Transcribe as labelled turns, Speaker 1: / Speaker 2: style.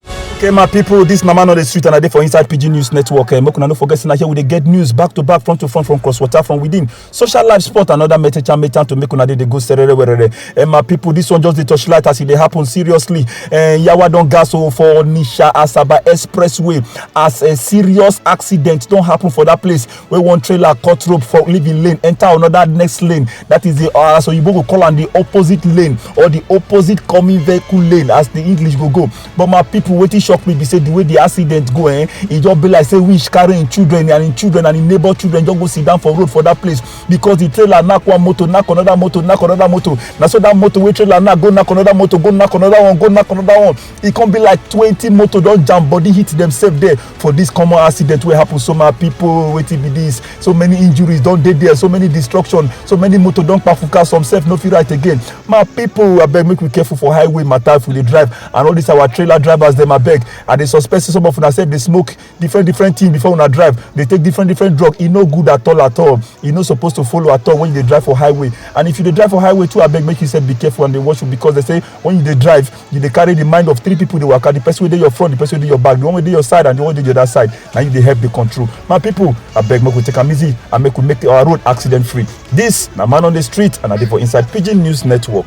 Speaker 1: okay my people, this mama no dey sweet and i dey for inside pidgin news network eh, make una no forget say na here we dey get news back to back front to front from cross water from within social life sport and other metecha metecha to make una dey dey go serere werere eh, my people, this one just dey touch light as e dey happen seriously eh, yawa don gas o for nisha asaba expressway as a serious accident don happen for that place wey one trailer cut rope for living lane enter another next lane that is the uh, as oyibo go call am the opposite lane or the opposite coming vehicle lane as the english go go but my people wetin shock me be say the way the accident go eh e just be like say wish carry im children and im children and im neighbor children just go sit down for road for that place because the trailer knack one motor knack another motor knack another motor na so that motor wey trailer knack go knack another motor go knack another one go knack another one e come be like twenty motor don jam body hit themselves there for this common accident wey happen so my people wetin be this so many injuries don dey there so many destruction so many motor don kpafuka some sef no fit right again my people abeg make we careful for highway matter if we dey drive and all these our trailer drivers dem abeg i dey suspect say some of una sef dey smoke different different thing before una drive dey take different different drug e no good at all at all e no suppose to follow at all when you dey drive for highway and if you dey drive for highway too abeg make you sef be careful and dey watch because they say when you dey drive you dey carry the mind of three people dey waka the person wey dey your front the person wey dey your back the one wey dey your side and the one wey dey the other side na you dey help dey control my people abeg make we take am easy and make we make our road accident free this na man on the street and i dey for inside pidgin news network.